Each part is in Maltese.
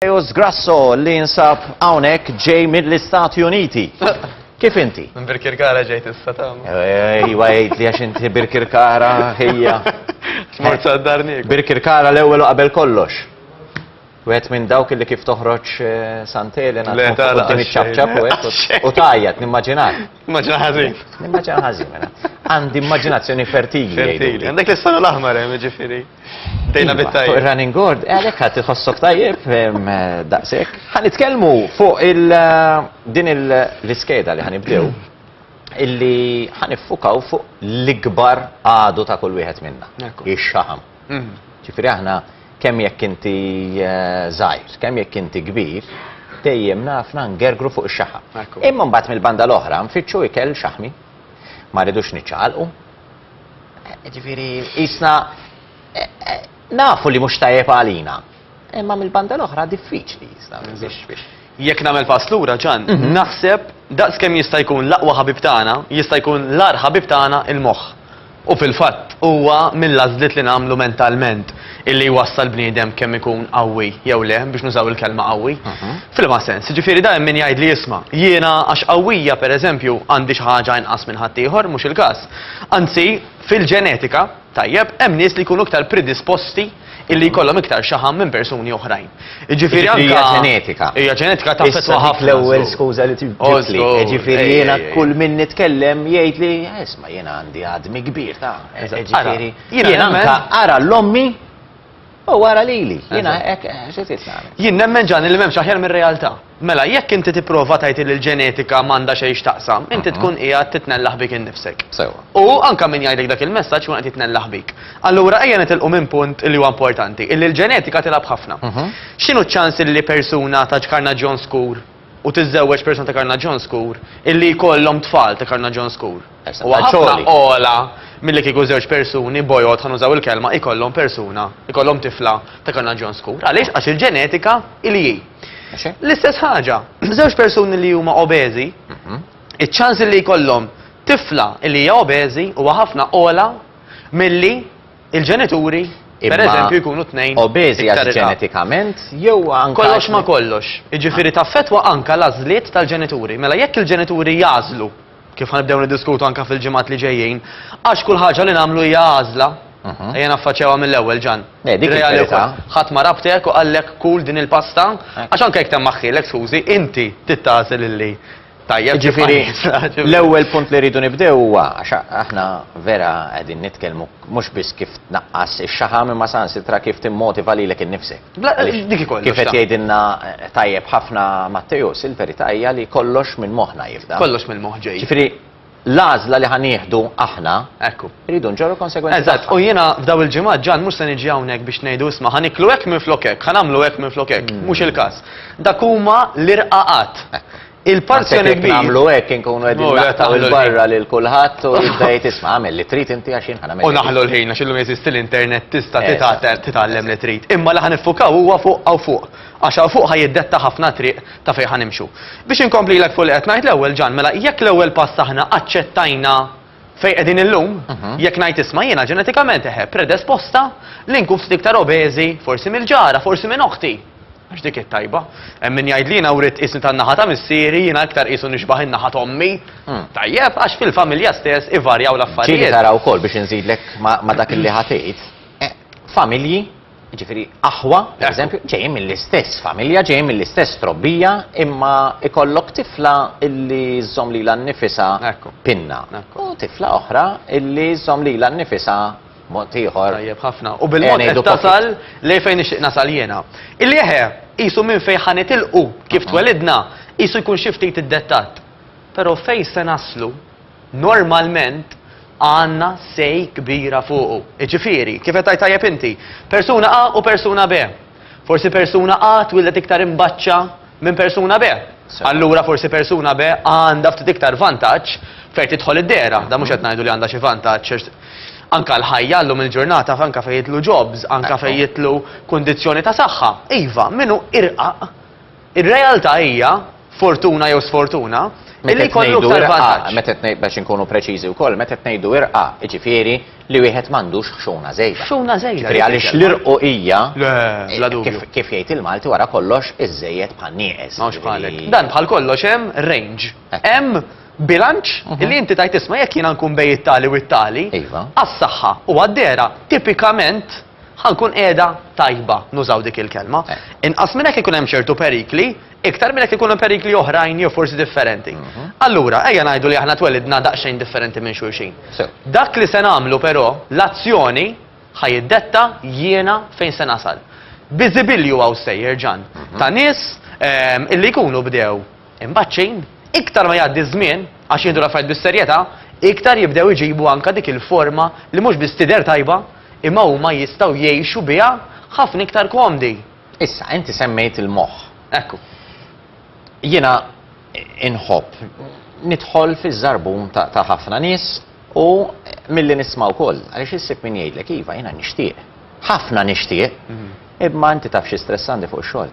Mateus Grasso li jinsab hawnhekk ġej mill-Istati Uniti. Kif inti? Minn Birkirkara ġejt issa tam. Ejwa jgħid li għax inti Birkirkara ħejja. Smart saddarnik. Birkirkara l-ewwel qabel kollox. Wet minn dawk li kif toħroġ eh, Sant'Elena. Le tara. U tajjat nimmaġinak. Immaġina ħażin. Immaġina ħażin, mela. Għandi immaġinazzjoni fertili. Fertili. Għandek l-istana l-aħmar, eh, ġifiri. Dejna iva, bittaj. Fuq il-running board, eh, għalek għat iħossok tajjeb, eh, daqsek. Għan itkelmu fuq din l-iskeda li għan ibdew, illi għan iffukaw fuq l-ikbar għadu ta' kull wieħed minna. Ix-xaħam. Ġifieri aħna kemm jekk inti żgħir, kemm jekk inti kbir, dejjem nafna ngergru fuq ix-xaħam. Imma mbagħad mill-banda l-oħra nfittxu ikel xaħmi. Ma rridux niċċaqalqu. Ġifieri qisna nafu li mhux tajjeb għalina. Imma mill-banda l-oħra diffiċli biex Jekk nagħmel pass lura ġan, mhm. naħseb daqs kemm jista' jkun l-aqwa ħabib tagħna, jista' jkun l-ar ħabib tagħna il-moħħ. U fil-fatt huwa mill-għażliet li nagħmlu mentalment illi jwassal bniedem kemm ikun qawwi jew le biex nużaw il-kelma qawwi. Mhm. Fil-ma sens, ġifieri dajjem min jgħid li jisma' jiena għax qawwija pereżempju għandi xi ħaġa inqas minn ħaddieħor mhux il-każ. Anzi, fil-ġenetika tajjeb, hemm nies li jkunu iktar predisposti illi jkollhom iktar xaħam minn persuni oħrajn. Jiġifieri anke hija ġenetika. Hija ġenetika taffettwa ħafna. L-ewwel skuża li tibdilli. Jiġifieri jiena kull min nitkellem jgħid li isma' jiena għandi għadmi kbir ta' jiġifieri jiena anke ara l-ommi U wara lili, jiena hekk xi trid nagħmel. Jien nemmen ġani li m'hemmx aħjar mir-realtà. Mela, jekk inti tipprova tgħid li l-ġenetika m'għandha xejn x'taqsam, inti tkun qiegħed titnellaħ bik innifsek. Sewwa. U anke min jgħidlek dak il-messaġġ ikun qed jitnellaħ bik. Allura ejja nitilqu minn punt li huwa importanti, illi l-ġenetika tilgħab ħafna. X'inhu ċ-ċans illi persuna ta' ġkarnaġġjon skur u tiżżewweġ persuna ta' karnaġġjon skur, illi jkollhom tfal ta' karnaġġjon skur. Huwa ħafna ogħla milli kieku żewġ persuni bojod, ħa nużaw il-kelma, ikollhom persuna, ikollhom tifla ta' karnaġġjon skur. Għaliex? Għax il-ġenetika hi li hi. L-istess ħaġa, żewġ persuni li huma obeżi, iċ-ċans illi jkollhom tifla illi hija obeżi huwa ħafna ogħla milli Il-ġenituri, per eżempju, jkunu tnejn. Obeżi għax ġenetikament jew anke. Kollox ma kollox. Jiġifieri taffetwa anke l-għażliet tal-ġenituri. Mela jekk il-ġenituri jażlu, kif ħanibdew niddiskutu anke fil-ġimgħat li ġejjin, għax kull ħaġa li nagħmlu hija għażla, Mhm. Ejja naffaċċewha mill-ewwel ġan. Eh, dik il-verità. Ħadd ma rabtek u qallek kul din il-pasta, eh. għax anke jekk temm aħħilek skużi, inti tittażel illi Tajjeb ġifieri l-ewwel punt li rridu nibdew huwa għax aħna vera qegħdin nitkellmu mhux biss kif tnaqqas ix-xaħam imma saħansitra kif timmotiva lilek innifsek. Dik ikoll. Kif qed jgħidilna eh, tajjeb ħafna Matteus, il-verità hija li kollox minn moħħna jibda. Kollox mill-moħħ ġej. Ġifieri l-għażla li ħa nieħdu aħna, Ekku. irridu nġorru l-konsegwenzi Eżatt, tagħha. u jiena f'daw il-ġimgħat ġan mhux se niġi hawnhekk biex ngħidu isma' ħa niklu hekk minflok hekk, ħa nagħmlu hekk minflok hekk, mhux il-każ. Dak huma l-irqaqat. Il-parzjoni Naħseb jekk kbir nagħmlu hekk inkunu qegħdin Mura, naqtaw taħlu il-barra lil kulħadd u jibda jgħid isma' għamel li trid inti għax jien ħa nagħmel u li trid." naħlu l-ħin għax illum jeżisti l-internet tista' Eżatt. titgħatel- titgħallem li trid. Imma li ħa niffukaw huwa fuq hawn fuq. Għax hawn fuq ħa jiddetta ħafna triq ta' fejn ħa nimxu. Biex inkomplilek fuq li qed ngħid l-ewwel, Ġan, mela jekk l-ewwel pass aħna aċċettajna fejn qegħdin illum, jekk ngħid isma' jiena ġenetikament eħe predesposta li nkun ftit iktar obeżi, forsi mill-ġara, forsi minn oħti, għax dik hi t-tajba. Hemm min jgħid li jiena writt tqisni tan-naħa ta' missieri, jiena iktar qisu nixbah in-naħa t'ommi. Tajjeb, għax fil-familja stess ivarjaw l-affarijiet. Ġieli tara wkoll biex inżidlek ma' dak li ħa tgħid, familji, Jiġifieri aħwa, pereżempju, ġejjin mill-istess familja, ġejjin mill-istess trobbija, imma jkollok tifla illi żżomm lilha nnifisha pinna u tifla oħra illi żżomm lilha nnifisha mod ieħor. Tajjeb ħafna. U bil-mod qed tasal lejn fejn nixtieq nasal jiena. Illi eħe, qisu minn fejn ħa nitilqu, kif twelidna, qisu jkun xi ftit iddettatt. Però fejn se naslu? normalment għandna say kbira fuqu. Jiġifieri, kif qed tgħid tajjeb inti, persuna A u persuna B. Forsi persuna A twieldet iktar imbaċċa minn persuna B. Allura forsi persuna B għandha ftit iktar vantaġġ fejn tidħol id-dehra. Dan mhux qed ngħidu li għandha xi vantaġġ għax anke l-ħajja llum il-ġurnata anke fejn jidħlu jobs, anke fejn jidħlu kundizzjoni ta' saħħa. Iva, min hu irqaq Ir-realtà hija, fortuna jew sfortuna, illi jkollu iktar vantaġġ. Meta qed ngħidu irqa, biex inkunu preċiżi wkoll, meta qed ngħidu irqa, jiġifieri li wieħed m'għandux ħxuna żejda. Ħxuna żejda. Jiġifieri għaliex l-irqu hija kif jgħid il-Malti wara kollox iżżejjed bħal nieqes. Mhux bħalek. Jiġifieri- Dan bħal kollox hemm range. Eh. Hemm bilanċ mhm. li inti tajt isma' jekk jiena nkun bej it-tali u t-tali. Iva. Għas-saħħa u għad-dera tipikament Ħa nkun qiegħda tajba, nużaw dik il-kelma. Inqas minn hekk ikun hemm ċertu perikli, iktar minn hekk ikun hemm perikli oħrajn jew forsi differenti. Allura, ejja ngħidu li aħna twelidna daqsxejn differenti minn xulxin. Sew. Dak li se nagħmlu però, l-azzjoni, ħa jiddetta jiena fejn se nasal. Bi żibilju hawn sejjer, Ġann, ta' nies, ehm, illi jkunu bdew. Imbagħad xejn, iktar ma jgħaddi ż-żmien, għax jieħdu l-affarijiet bis-serjetà, iktar jibdew iġibu anke dik il-forma li mhux biss tidher tajba, imma huma jistgħu jgħixu biha ħafna iktar komdi. Issa, inti semmejt il-moħħ. Ekku. Jiena inħobb nidħol fiż-żarbun ta' ħafna nies u milli nisma' wkoll, għaliex issib min jgħidlek iva jiena nixtieq. Ħafna nixtieq, mhm. imma inti taf xi stress għandi fuq ix-xogħol.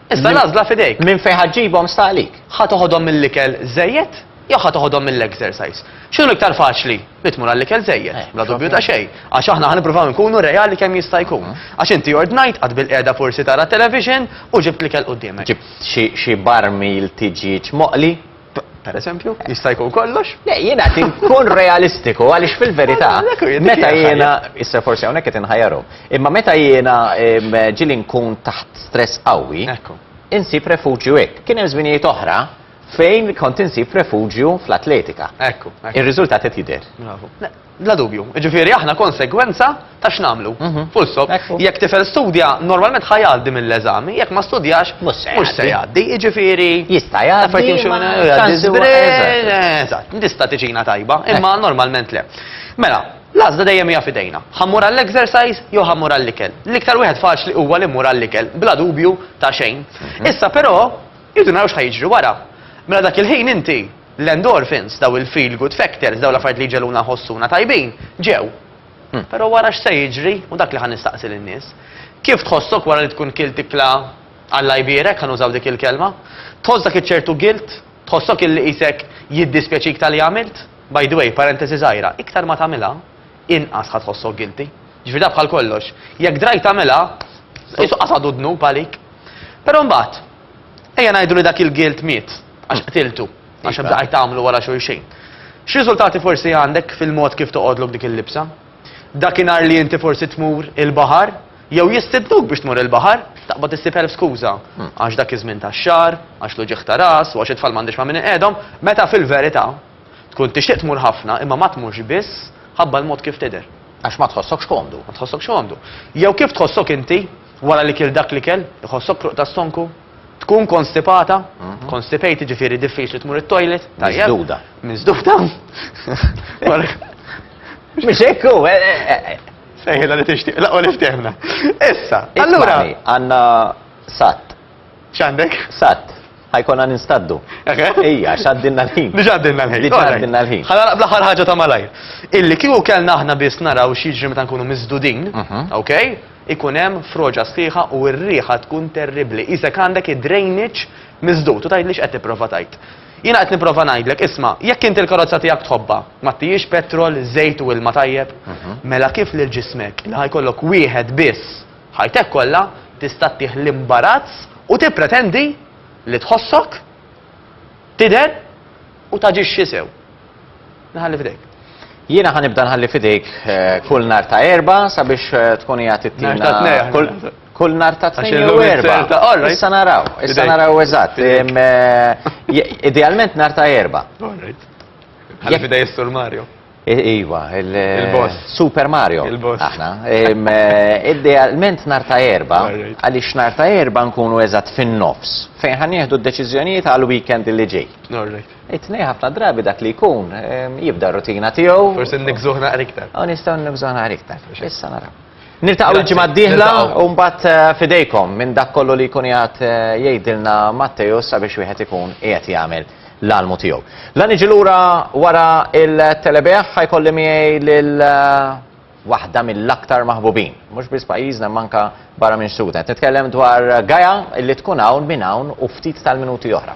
Iżda l-għażla f'idejk. Minn fejn ħa ġġibhom sta għalik. Ħa toħodhom mill-ikel żejjed jew ħa toħodhom mill-exercise? X'inhu iktar faċli? Li tmur għall-ikel żejjed, eh, bla dubju ta' xejn. Għax aħna ħa nippruvaw inkunu reali kemm jista' jkun. Mhm. Għax inti ordnajt qatt bil-qiegħda forsi tara television u ġibt l-ikel qudiemek. Ġibt xi barmil tiġieġ moqli Per eżempju, jista' jkun kollox? Le, jiena qed inkun realistiku għaliex fil-verità meta jiena issa forsi hawnhekk qed inħajjaru. Imma meta jiena ġili nkun taħt stress qawwi, insib refuġju hekk. Kien hemm żminijiet oħra fejn kont insib refuġju fl-atletika. Ekku. Ir-riżultat qed jidher. Bla dubju. Jiġifieri aħna konsegwenza ta' x'nagħmlu. Full stop. Jekk tifel studja, normalment ħa jgħaddi mill-eżami, jekk ma studjax, mhux se jgħaddi. Jiġifieri jista' jgħaddi Eżatt, tista' tiġina tajba, imma normalment le. Mela, l-għażla dejjem hija f'idejna. Ħa mmur għall-exercise jew ħa mmur għall-ikel. L-iktar wieħed faċli huwa li mmur għall-ikel, bla dubju ta' xejn. Issa però, irridu naraw x'ħa jiġri wara. Mela dak il-ħin inti L-endorphins, dawn il-feel-good factors, dawn l-affarijiet li jġegħluna nħossuna tajbin, ġew. Però wara x'se jiġri? Hu dak li ħa nistaqsi lin-nies. Kif tħossok wara li tkun kilt ikla Alla jbierek, ħa nużaw dik il-kelma? Tħoss dak iċ-ċertu guilt? Tħossok illi qisek jiddispjaċik ta' li għamilt? By the way, parentesi żgħira, iktar ma tagħmilha, inqas ħa tħossok guilty. Jiġifieri dak bħal kollox. Jekk drajt tagħmilha, qisu qasadu d-dnub għalik. Però mbagħad, ejja ngħidu li dak il-guilt miet. Għax qtiltu, għax iva. bdaqajt tagħmlu wara xulxejn. X'riżultati forsi għandek fil-mod kif toqgħodlok dik il-libsa? Dakinhar li inti forsi tmur il-baħar, jew jistidnuk biex tmur il-baħar, taqbad issib elf skuża. Hmm. Għax dak iż-żmien tax-xahar, għax l-uġieħ ta' ras, u għax it-tfal m'għandix ma' min iqedhom, meta fil-verità tkun tixtieq tmur ħafna imma ma tmurx biss ħabba l-mod kif tidher. Għax ma tħossokx komdu. Ma tħossokx komdu. Jew kif tħossok inti wara li kil dak li kell, iħossok kruq tas-sonku, Tkun konstipata, constipated ġifieri diffiċli tmur it-toilet, tajjeb. Miżduda. Miżduda. Mhux hekk hu, eh, eh, eh, Sejħilha li tixtieq, laqgħu li ftehmna. Issa, allura. Ismani, għandna sat, X'għandek? sat, ħajkonna ninstaddu. Eħe. Ija, xaddinna l-ħin. Diġa għaddinna l-ħin. Diġa Alright. għaddinna l-ħin. Ħana naqbla ħar ħaġa ta' malajr. Illi kieku kellna aħna biss naraw xieġri meta nkunu miżdudin, Mhm. ok? Ikun hemm froġa sħiħa u r-riħa tkun terribbli, qisek għandek id-drainage miżdud u tgħidli x'qed tipprova tgħid. Jiena qed nipprova ngħidlek, isma', jekk inti l-karozza tiegħek tħobbha, m'għattihiex petrol, żejt u ilma tajjeb, mela kif lil ġismek, li ħa jkollok wieħed biss ħajtek kollha, tista' ttih l-imbarazz u tippretendi li tħossok? tidher u taġixxi sew. Naħalli f'idejk. Jiena ħa nibda nħalli f'idejk eh, kull nar ta' erba sabiex eh, tkun hija tittina. Kull nar ta' tnejn jew erba. Issa naraw, issa naraw eżatt. Eh, idealment nar ta' erba. Ħalli f'idej is-Sur Mario. Iva, il-boss. Super Mario. Il-boss. Aħna. Idealment nar ta' erba, għaliex nar ta' erba nkunu eżatt fin-nofs, fejn ħan nieħdu d-deċiżjonijiet għal weekend li ġej. It-tnej ħafna drabi dak li jkun jibda rutina tiegħu. Forsi nikżuħ naqra iktar. Aw nistgħu nikżuħ naqra iktar. Issa naraw. Niltaqgħu l-ġimgħa d-dieħla u mbagħad eh, fidejkom minn dak kollu li jkun jgħat eh, jgħidilna Matteju sabiex wieħed ikun qiegħed jagħmel l-almu tiegħu. La niġi lura wara il-telebeħ ħajkolli miegħi lil eh, waħda mill-aktar maħbubin. Mhux biss pajjiżna manka barra minn Sudan. Nitkellem dwar Gaja li tkun hawn minn hawn u ftit tal-minuti oħra.